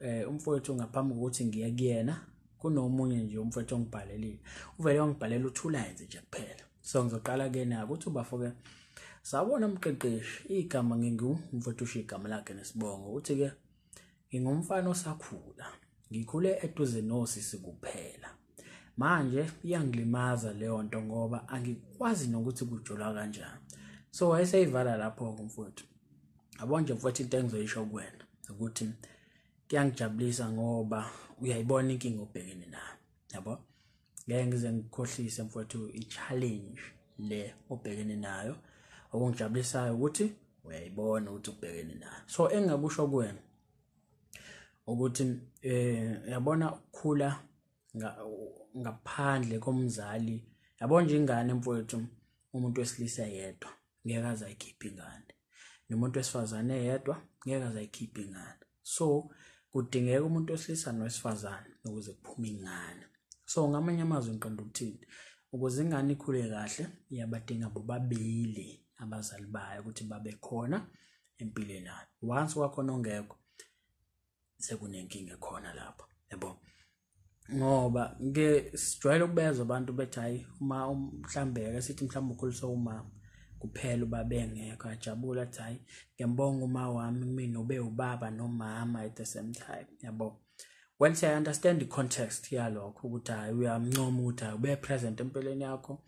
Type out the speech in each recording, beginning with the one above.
eh umfowethu ngaphambi kokuthi ngiye kuyena kunomunye nje umfowethu ongibhalelile uvele wangibhalela uthulayenze nje kuphela so ngizoqala kuyena ukuthi ubafo-ke sabona mqeqeshi igama ngingumfowethu usho igama lakhe nesibongo uthi-ke ngingumfana osakhula ngikhule eduze nosisi kuphela manje iyangilimaza leyo nto ngoba angikwazi nokuthi kujulwa kanjani so wayeseyivala lapho-ke mfowethu yabo nje mfowethu into engizoyisho kuwena ukuthi kuyangijabulisa ngoba uyayibona inkinga obhekene nayo yabo ngeke ngize ngikhohlise mfowethu i-challenge le obhekene nayo okungijabulisayo ukuthi uyayibona ukuthi ubhekene nayo so engingakusho kuwena ukuthi eh yabona ukukhula ngaphandle komzali yabona nje ingane mfowethu umuntu wesilisa yedwa ngeke azayikhipha ingane nomuntu wesifazane yedwa ngeke azayikhipha ingane so kudingeka umuntu wesilisa nowesifazane ukuze kuphume ingane so ngamanye amazwi ngiqonda ukuthini ukuze ingane ikhule kahle iyabadinga bobabili abazali bayo ukuthi babe khona empilweni yakhe once wakhona ongekho sekunenkinga khona lapho yabo ngoba ke sijwayele ukubezwa abantu bethi hayi uma um, mhlambe ke sithi mhlambe ukhuliswa umama kuphela uba bengekho ajabula athi hayi ngiyambonga uma wami mina ube ubaba nomama at the same time yabo well siya understand the context yalokho ukuthi hayi uyamncoma ukuthi hayi ube present empilweni yakho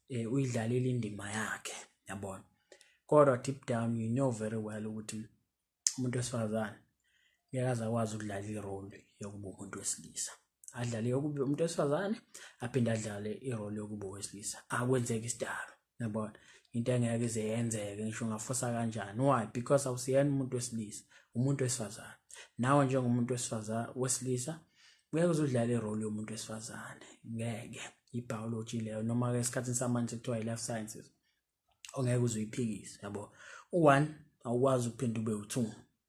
eh uyidlalile indima yakhe yabona kodwa deep down you know very well ukuthi umuntu wesifazane ngeke aze akwazi ukudlala irole yokuba umuntu wesilisa adlale yokuba umuntu wesifazane aphinde adlale irole yokuba owesilisa akwenzeki isidalo yabona into engeke ize yenzeke ngisho ungafosa kanjani why because awusiyena umuntu wesilisa umuntu wesifazane nawe njengomuntu wesifazane wesilisa ngeke uzudlala irole yomuntu wesifazane ngeke i-biology leyo noma-ke esikhathini samanje kuthiwa i-life sciences ongeke uze uyiphikise yabo u-one awukwazi ukuphinde ube u-two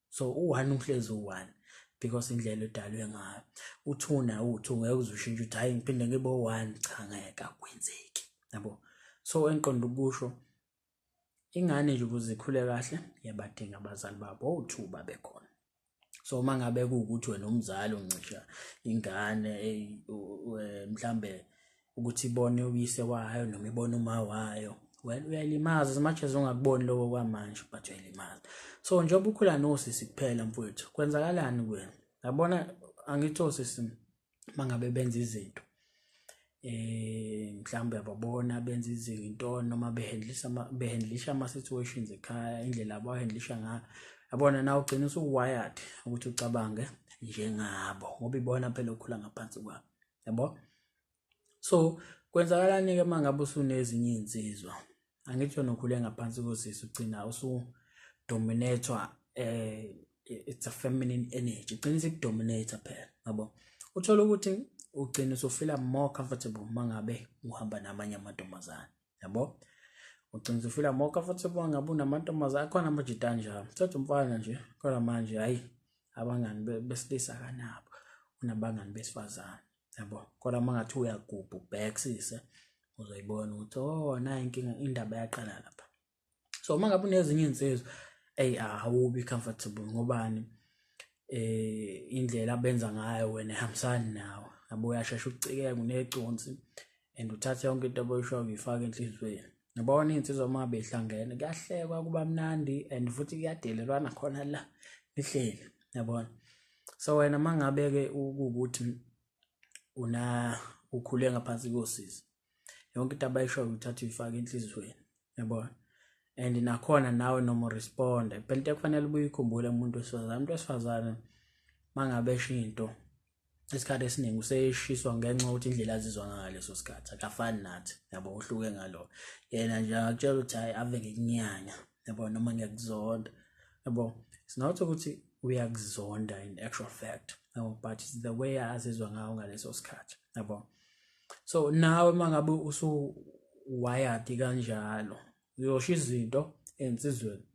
so u-one uhlezi u-one because indlela edalwe ngayo u-two naye uwu-two ngeke uze ushintshe ukuthi hhayi ngiphinde ngibe u-one cha ngeke akwenzeki yabo so engiqonda ukusho ingane nje ukuze ikhule kahle yabadinga abazali babo owu-two babekhona so uma ngabe kuwukuthi wena umzali uncisha ingane mhlambe ukuthi ibone uyise wayo noma ibone uma wayo well uyayilimaza as much as ungakuboni lokho kwamanje but uyayilimaza so njengoba ukhula nosisi kuphela mfowethu kwenzakalani kuwena yabona angithi osisi mangabe benza izinto eh mhlawumbe ababona benza izinto noma behandlisha behandlisha ama situations ekhaya indlela abahandlisha ngayo yabona na ugcina usuwired ukuthi ucabange njengabo ngoba ibona phela okhula ngaphansi kwabo yabo so kwenzakalani ke mangabe usunezinye izinsizwa angithi yona ukhule ngaphansi kosisi ugcina usu dominator eh it's a feminine energy ugcina sikudominator phela yabo uthola ukuthi ugcina usufila more comfortable mangabe uhamba namanye amantombazane yabo ugcina usufila more comfortable ngabe unamantombazane akhona amajita njalo thatha umfana nje kodwa manje hayi abangani besilisa kanabo unabangani besifazane yabo kodwa uma ngathi uyagubha ubhekisise uzoyibona ukuthi oh nayo inkinga indaba yaqala lapha so uma ngabe unezinye iy'nsizwa eyi awubi comfortable ngobani eh indlela abenza ngayo wena ehambisani nawe yabo uyashesha ukucikeka uneconsi and uthathe yonke into abayishoyo uyifake enhliziyweni Nibona iy'nsizwa uma behlangene kuyahlekwa kuba mnandi and futhi kuyadelelwana khona la nihleli yabona so wena uma ngabe-ke ukuwukuthi una ukhule ngaphansi kosisi yonke into abayishoyo uthatha uyifake enhliziyweni yabona and nakhona nawe noma uresponde phela into ekufanele ubuye ikhumbule umuntu wesifazane umuntu wesifazane uma ngabe esho into isikhathi esiningi useshiswa ngenxa ukuthi indlela azizwa ngayo leso sikhathi akafani nathi yabo uhluke ngalo yena nje akutshela ukuthi hayi ave ngikunyanya yabo noma ngiyakuzonda yabo it's not ukuthi uyakuzonda in actual fact yabo but it's the way azizwa ngayo ngaleso sikhathi yabo so nawe mangabe usu wired kanjalo uyosho izinto ensizweni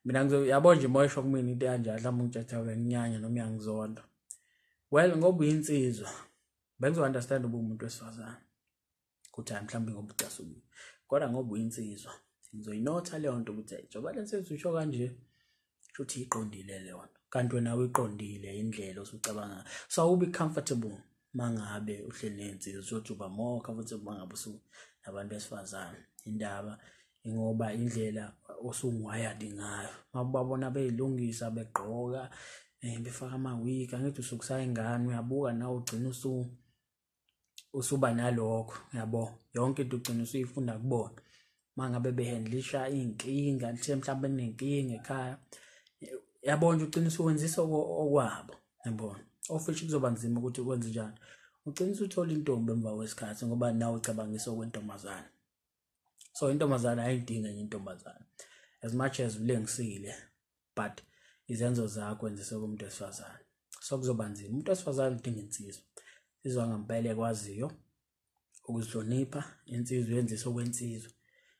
mina ngizoyabo nje moyisho kumina into kanjalo mhlawumbe ngitshatha nginyanya noma uyangizonda well ngoba uyinsizwa bengizo understand uba umuntu wesifazane ukuthi hayi mhlawumbe ngoba ucasukile kodwa ngoba uyinsizwa ngizoyinotha leyo nto ukuthi njengoba le nsizwa usho kanje shuthi iqondile leyo nto kanti wena uyiqondile indlela osucabanga so awubi comfortable mangabe uhleli nensizwa uzothi uba more comfortable mangabe usu nabantu besifazane indaba ngoba indlela osungu-wired ngayo uma ubabona beyilungisa begqoka um befaka ama-wig angithi usukusayo ingane uyabuka nawe ugcina usu usuba nalokho yabo yonke into ugcina usuyifunda kubona uma ngabe behandlisha iy'nkinga lithe mhlawumbe nenkinga ekhaya yabona ugcina usuwenzisa okwabo yabona ofishi kuzoba nzima ukuthi ukwenze njani ugcina usuthola intombi emva kwesikhathi ngoba nawe ucabangisa okwentombazane so intombazane ayidinge enye intombazane as much as ulengisile but izenzo zakho enzise kumuntu wesifazane so kuzoba nzima umuntu wesifazane udinga insizwa insizwa ngempela ekwaziyo ukuzihlonipha insizwa yenzisa okwensizwa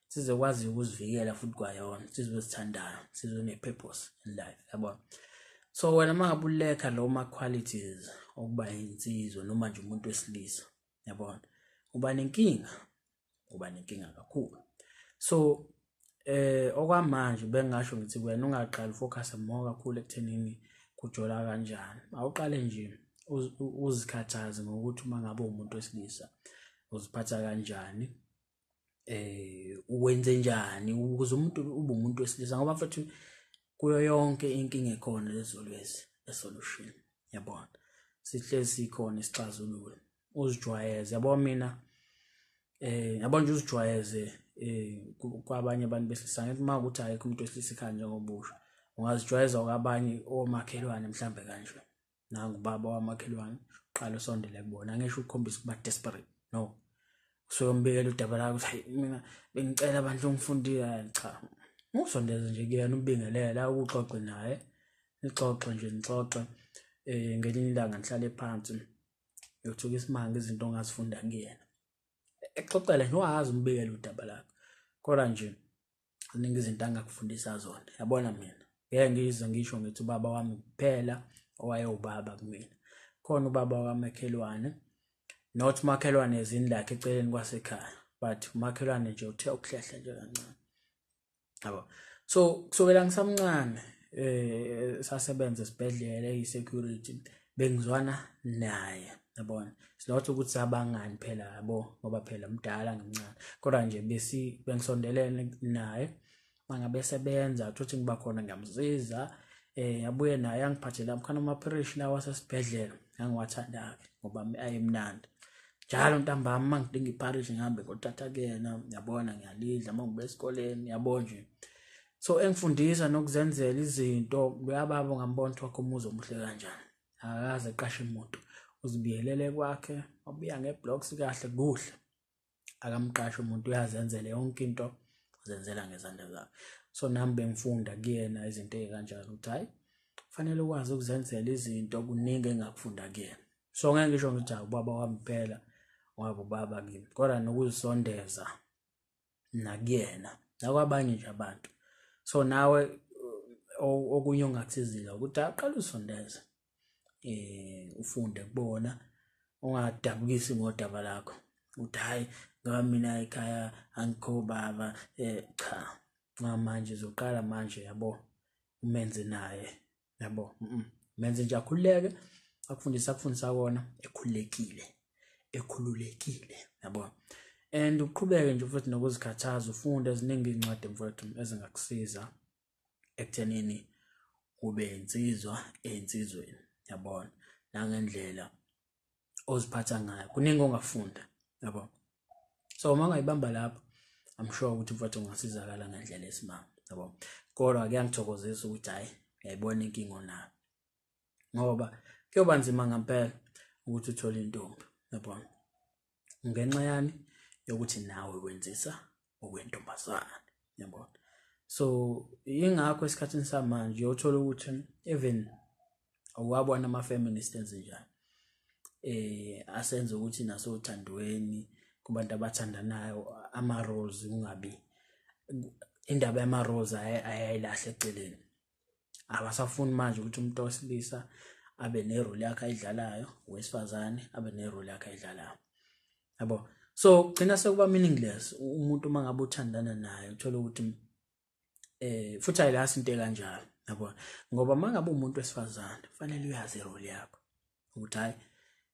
insizwa ekwaziyo ukuzivikela futhi kwayona insizwa ezithandayo insizwa ene-purpose in life yabona so wena uma ngabe ulekha lo ma-qualities okuba insizwa noma nje umuntu wesilisa yabona uba nenkinga uba nenkinga kakhulu so eh okwamanje bengasho ngithi wena ungaqali focus more kakhulu ekuthenini kujola kanjani awuqale nje uzikhathaze ngokuthi uma ngabe umuntu wesilisa uziphatha kanjani eh uwenze njani ukuze umuntu ube umuntu wesilisa ngoba mfethu kuyo yonke inkinga ekhona lezolwezi esolution yabona sihlezi sikhona isixazululo uzijwayeze yabo mina eh yabo nje uzijwayeze eh kwabanye abantu besilisa ngithi uma ukuthi ayikho umuntu wesilisa ekhaya njengobusha ungazijwayeza kwabanye omakhelwane mhlambe kanje nangu ubaba wamakhelwane uqala usondele kubona angesho ukukhombisa ukuba desperate no usuke umbikela udaba lakho ukuthi hayi mina bengicela abantu ongifundile cha usondeze nje kuyena ubingelela ukuxoxe naye nixoxe nje nixoxe eh ngelinye ilanga ngihlale phansi yothuka isimanga izinto ongazifunda kuyena exoxela nje wazi umbikela udaba lakho kodwa nje kuningi izinto angakufundisa zona yabona mina ngeke ngize ngisho ngithi ubaba wami kuphela owayewubaba kumina khona ubaba wamakhelwane not umakhelwane ezini lakhe eceleni kwasekhaya but umakhelwane nje uthe ukuhlehla nje kancane yabo so kusukela ngisamncane eh sasebenza esibhedlela eyi security bengizwana naye yabona silotho ukuthi sabangani phela yabo ngoba phela mdala ngimncane kodwa nje besi bengisondelene naye mangabe sebenza thothi ngiba khona ngiyamsiza eh yabuye naye angiphathela mkhana amaphirishi lawa sesibhedlela ngangiwathanda-ke ngoba ayemnandi njalo ntambama uma ngidinga ipharishi ngihambe ngothatha kuyena yabona ngiyalidla uma ngibe esikoleni yabo nje So engifundisa nokuzenzela izinto kuyababo ngambona ukuthi wakho umuzi omuhle kanjani. Akaze eqashe imoto. Uzibiyelele kwakhe, wabuya ngeblocks kahle kuhle. Akamqashe umuntu uyazenzela yonke into uzenzela ngezandla zakhe. So nami bengifunda kuyena izinto ezikanjalo ukuthi hayi fanele ukwazi ukuzenzela izinto kuningi engakufunda kuyena. So ngeke ngisho ngithi ubaba wami kuphela wabo baba kimi kodwa nokuzisondeza nakuyena nakwabanye nje abantu so nawe okunye ongakusizile ukuthi aqale usondeze eh ufunde kubona ungadabukisi ngodaba lakho ukuthi hayi ngoba mina ekhaya angikho baba eh cha ngamanje zoqala manje yabo umenze naye yabo menze nje akhululeke akufundisa akufundisa kona ekhululekile ekhululekile yabo and uqhubeke nje futhi nokuzikhathaza ufunde eziningi iy'ncwadi mfowethu ezingakusiza ekuthenini ube insizwa ey'nsizweni yabona nangendlela oziphatha ngayo kuningi ongafunda yabo so uma ungayibamba lapho i'm sure ukuthi mfowethu ungasizakala ngendlela esimanga yabo kodwa kuyangithokozisa ukuthi hhayi ngiyayibona inkinga onayo ngoba kuyoba nzima ngempela ukuthi uthole intombi yabona ngenxa yani yokuthi nawe wenzisa okwentombazane yabona so ingakho esikhathini samanje uyothola ukuthi even wabona ama feminist enzenjani eh asenza ukuthi naso uthandweni kubantu abathandanayo ama roles kungabi indaba yama roles ayayilahle eceleni abasafuni manje ukuthi umuntu osilisa abe nerole yakhe ayidlalayo wesifazane abe nerole yakhe ayidlalayo yabo so gcina sekuba meaningless umuntu uma ngabe uthandana naye uthole ukuthi eh futhi ayilasi into ekanjalo yabo ngoba uma ngabe umuntu wesifazane fanele uyazi irole yakho ukuthi hayi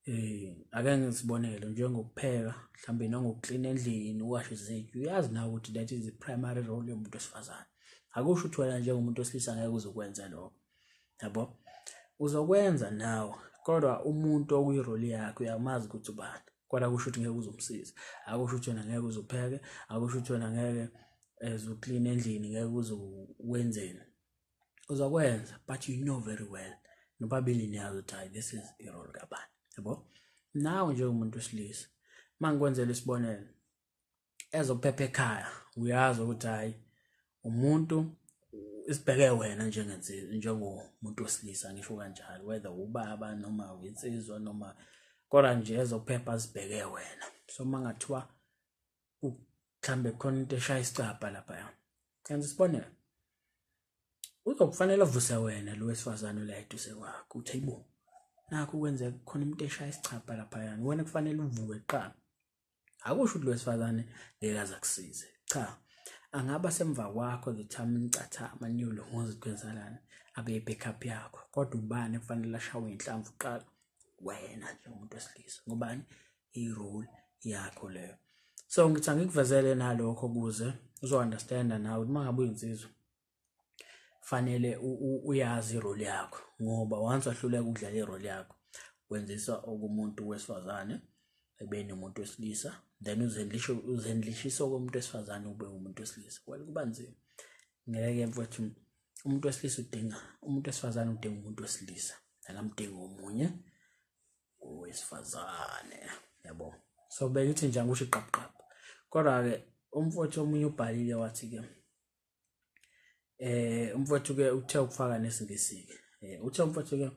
eh ake ngisibonele njengokupheka mhlawumbe nangokuklina endlini uwashe izinto uyazi nawe ukuthi that is the primary role yomuntu wesifazane akusho ukuthi wena njengomuntu wesilisa ngeke uzokwenza lokho yabo uzokwenza nawe kodwa umuntu okuyiroli yakhe uyamazi ukuthi ubani kodwa kusho ukuthi ngeke uzomsiza akusho ukuthi wena ngeke uzopheke akusho ukuthi wena ngeke ezoklina eh, endlini ngeke uzokwenzeni uzokwenza but you know very well nobabili niyazi ukuthi hayi this is irole kabani yabo nawe njengomuntu wesilisa uma ngikwenzela isibonelo ezophepha ekhaya uyazi ukuthi hayi umuntu isibheke wena njengensizwa njengomuntu wesilisa ngisho kanjalo whether ubaba noma insizwa noma kodwa nje ezophepha sibheke wena so mangathiwa mhlambe khona into eshaya isicabha lapha Kanti sibonela. Uzokufanele avuse wena lo wesifazane la eduze kwakho. Uthi ayibo. Nakho kwenze khona umuntu eshaya isichapha lapha yani. Wena kufanele uvuke kuqala. Akusho ukuthi lo wesifazane ngeke aza kusize. Cha. Angaba semva kwakho the time nicathama niyolo ngozi kwenzelana abe backup yakho. Kodwa ubani kufanele ashawe inhlamvu kuqala? Wena nje umuntu wesilisa. Ngobani? i-role yakho leyo so ngithi angikuvezele nalokho kuze uzo-understanda nawe ukuthi uma ngabe uyinsizwa fanele uyazi iroli yakho ngoba once wahluleka ukudlala iroli yakho wenzisa okumuntu wesifazane ekubeni umuntu wesilisa then uzendlishisa okomuntu wesifazane ube umuntu wesilisa well kuba nzima ngeke mfowethu umuntu wesilisa udinga umuntu wesifazane udinga umuntu wesilisa akamdingi omunye owesifazane yabo so beke uthi nje angisho iqabuqabu kodwa-ke umfowethu omunye ubhalile wathi-ke eh umfowethu-ke uthe ukufaka nesingisi-ke eh, uthe umfowethu-ke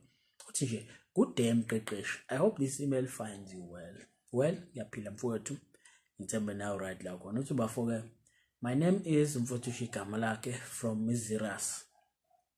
uthi nje good day mqeqeshi i hope this email finds you well well ngiyaphila mfowethu ngithembe nawe right la khona uthi bafo-ke my name is mfowethu usho igama lakhe from mizirus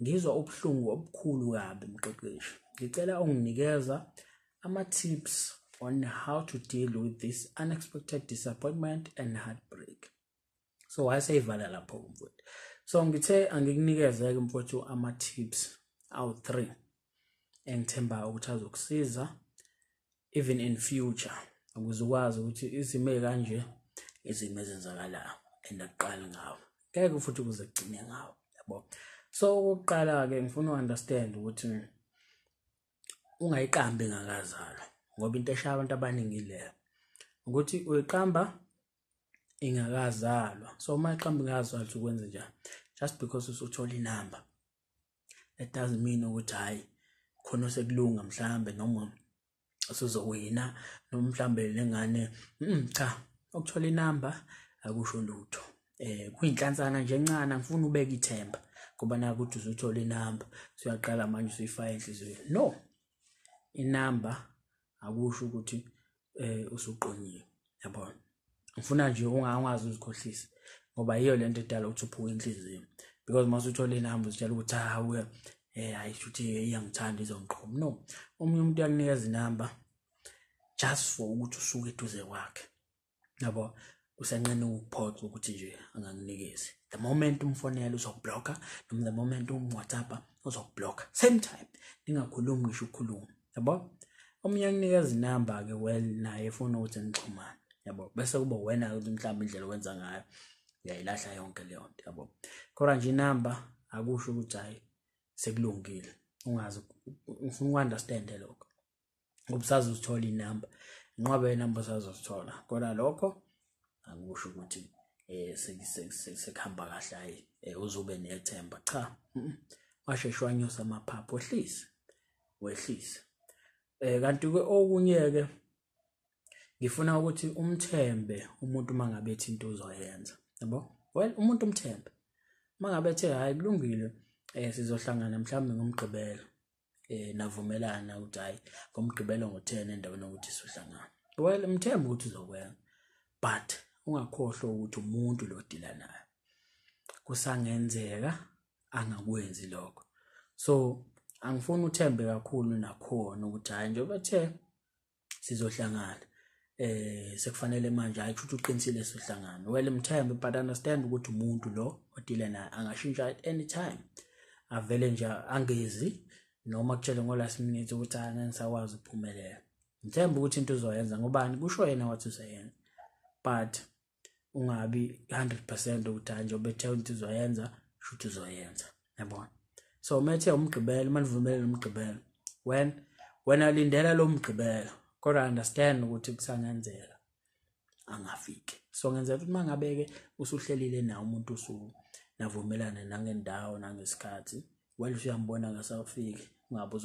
Ngizwa ubuhlungu obukhulu kabi mqeqeshi. Ngicela unginikeza ama tips on how to deal with this unexpected disappointment and heartbreak. So wayeseyivala lapho umfowethu. So ngithe angikunikeze ke mfowethu ama tips awu 3. engithembayo ukuthi azokusiza even in future ukuze ukwazi ukuthi izimo ezikanje izimo ezenzakalayo and akuqali ngawo ngeke futhi kuze kugcine ngawo yabo so ukuqala ke ngifuna uunderstand ukuthi ungayiqambi ngakazalwa ngoba into eshaya abantu abaningi leyo ukuthi uyiqamba ingakazalwa so uma iqamba ingakazalwa ukwenze njani just because usuthole inamba that doesn't mean ukuthi hayi khona osekulunga mhlambe noma usuzowina noma mhlambe lengane mm, cha ukuthola inamba akusho lutho eh kuyinhlansana nje encane ngifuna ubeke ithemba ngoba naku ukuthi uzothola inamba so uyaqala manje usuyifaka enhlizweni no inamba akusho ukuthi eh usuqonyiwe yabona ngifuna nje ungazi uzikhohlise ngoba yiyo lento edala ukuthi uphuke inhliziyo because mase uthola inamba uzitshela ukuthi hawu eh hayi futhi iyangithanda izongiqhoma no omunye umuntu uyakunikeza inamba just for ukuthi usuke eduze kwakhe yabo usenqena ukuphoxa ukuthi nje angakunikezi the moment umfonela uzokublocker noma the moment umwhatsappa uzokublocker same time ningakhulumi ngisho ukukhuluma yabo omunye akunikeza inamba-ke well naye efuna ukuthi nixhumane yabo bese kuba wena-ke ukuthi mhlawumbe indlela owenza ngayo uyayilahla yonke leyo nto yabo kodwa nje inamba akusho ukuthi hhayi sekulungile ungazi ufuna uku-understande lokho ubusazozithola inamba inqwaba yenamba usazozithola kodwa lokho angikusho ukuthi eh sekuhamba kahle hayi eh, uzobe nethemba cha washeshe wanyusa amaphaphu wehlise wehlise eh kanti ke okunye ke ngifuna ukuthi umthembe umuntu mangabe ethi into uzoyenza yabo well umuntu umthembe mangabe ethe hayi kulungile eh sizohlangana mhlawumbe ngomgqibelo eh navumelana ukuthi hayi ngomgqibelo ngo10 endaweni ukuthi sihlangana well mthemba ukuthi uzokwenza but ungakhohlwa ukuthi umuntu lo dila naye kusangenzeka angakwenzi lokho so angifuni uthembe kakhulu nakhona ukuthi hayi njengoba ethe sizohlangana eh sekufanele manje hayi ukuthi uqinisile sohlangana well mthembe but understand ukuthi umuntu lo odile naye angashintsha at any time avele nje angezi noma kutshele ngo last minute ukuthi angeke ngisakwazi ukuphumelela ngithemba ukuthi into uzoyenza ngobani kusho yena wathi useyenza but ungabi 100 percent ukuthi hayi njengoba ethe ukuthi uzoyenza shuthi uzoyenza yabona so umethe umgqibelo uma nivumelele umgqibelo when wena lindela lo mgqibelo kodwa understand ukuthi kusangenzeka angafiki so ngenzela ukuthi uma ngabe-ke usuhlelile nawo umuntu usuku navumelane nangendawo nangesikhathi well usuyambona ngasawufiki ungabe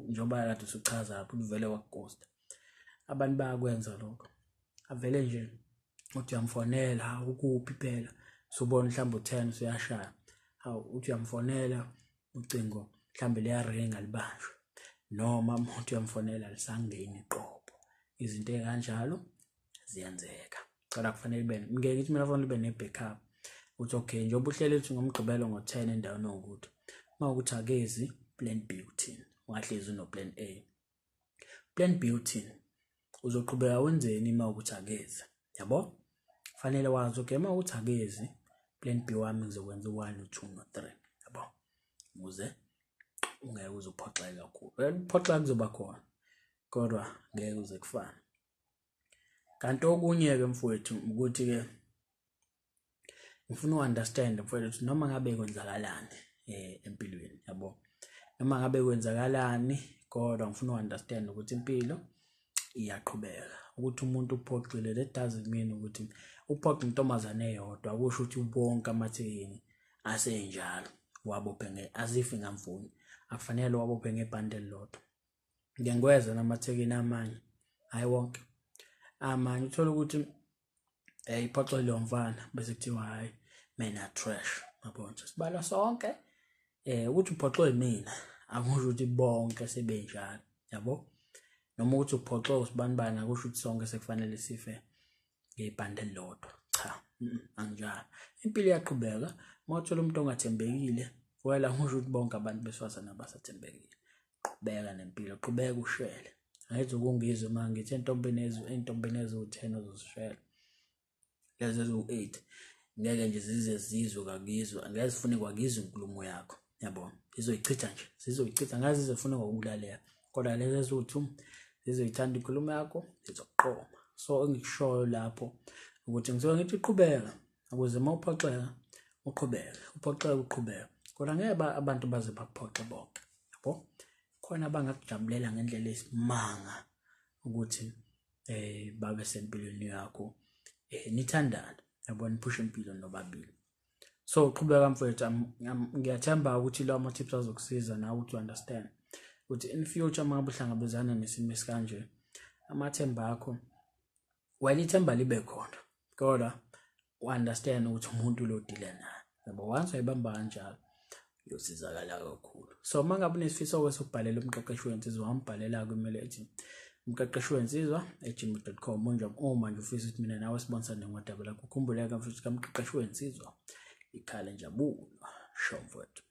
njengoba kade usuchaza lapho uvele wakugosta abantu bayakwenza lokho avele nje uthi uyamfonela ukuphi phela subona mhlawumbe u-ten usuyashaya hawu uthi uyamfonela ucingo mhlawumbe liyaringa libanjwe noma umuntu uyamfonela lisangeni qobo izinto ezikanjalo ziyenzeka cela kufanele ibe ngeke ithi mina fanele ibe ne-backup uthi okay njengoba uhlele ukuthi ngomgqibelo ngo-ten endaweni owukuthi uma ukuthi akezi plan b uthini ungahlezi unoplan a plan B uthini uzoqhubeka wenzeni uma ukuthi akezi yabo fanele wazi okay uma ukuthi akezi plan B wami ngizokwenza u1 no2 no3 yabo ukuze ungeke uzophoxeka kakhulu ukuphoxeka kuzoba khona kodwa ngeke uze kufane kanti okunye ke mfowethu ukuthi ke ngifuna uunderstand mfowethu ukuthi noma ngabe kwenzakalani eh empilweni yabo noma ngabe kwenzakalani kodwa ngifuna uunderstand ukuthi impilo iyaqhubeka ukuthi umuntu uphoxile that doesn't mean ukuthi uphoxe intombazane eyodwa kusho ukuthi bonke amathekeni asenjalo wabophe nge as if ngamfuni akufanele wabophe ngebhande elilodwa ngike ngikwezwa namathekeni amanye hhayi wonke amanye uthole ukuthi um eh, iphoxo liyomfana bese kuthiwa hhayi mina trash yabona sibala sonke eh ukuthi uphoxwe mina akusho ukuthi bonke sebenjalo yabo noma ukuthi uphoxwe usibanibani akusho ukuthi sonke sekufanele sife ngebhande elilodwa cha mm, anginjalo impilo iyaqhubeka uma uthola umuntu ongathembekile wela ngisho ukuthi bonke abantu besifazane abasathembekile qhubeka nempilo qhubeka ushele ayithi ukungizwe uma ngithi entombini ezwe entombini eziwu-ten ozozishela lezi eziwu-eight ngeke nje zize zizwe kakizwe angeke zifune kwakizwe inkulumo yakho yabo zizoyichitha nje zizoyichitha ngazi zizofuna ngokulaleka kodwa lezi ezuthu zizoyithanda inkulumo yakho zizoqoma so engikushoyo lapho ukuthi ngisuke ngithi qhubeka ukuze uma uphoxeka uqhubeke uphoxeke uqhubeke kodwa ngeke abantu baze bakuphoxe bonke yabo khona abangakujabulela ngendlela esimanga ukuthi eh babe sempilweni yakho eh nithandana yabo niphushe impilo nobabili so uqhubeka mfowethu ngiyathemba ukuthi lawo ama-tips azokusiza nawe ukuthi u-understand ukuthi in future uma buhlangabezana nesimo esikanje amathemba akho wena ithemba libe khona kodwa u-understand ukuthi umuntu lo dile naye yabo once wayibamba kanjalo yosizakala kakhulu so uma ngabe unesifiso kwese ukubhalela umqeqeshi wensizwa wambhalela kumele ethi umqeqeshi wensizwa ejimbo.com unjam uma nje ufisa ukuthi mina nawe sibonsane ngodaba lakho khumbuleka futhi kamqeqeshi wensizwa ikhale njabulo shomfowethu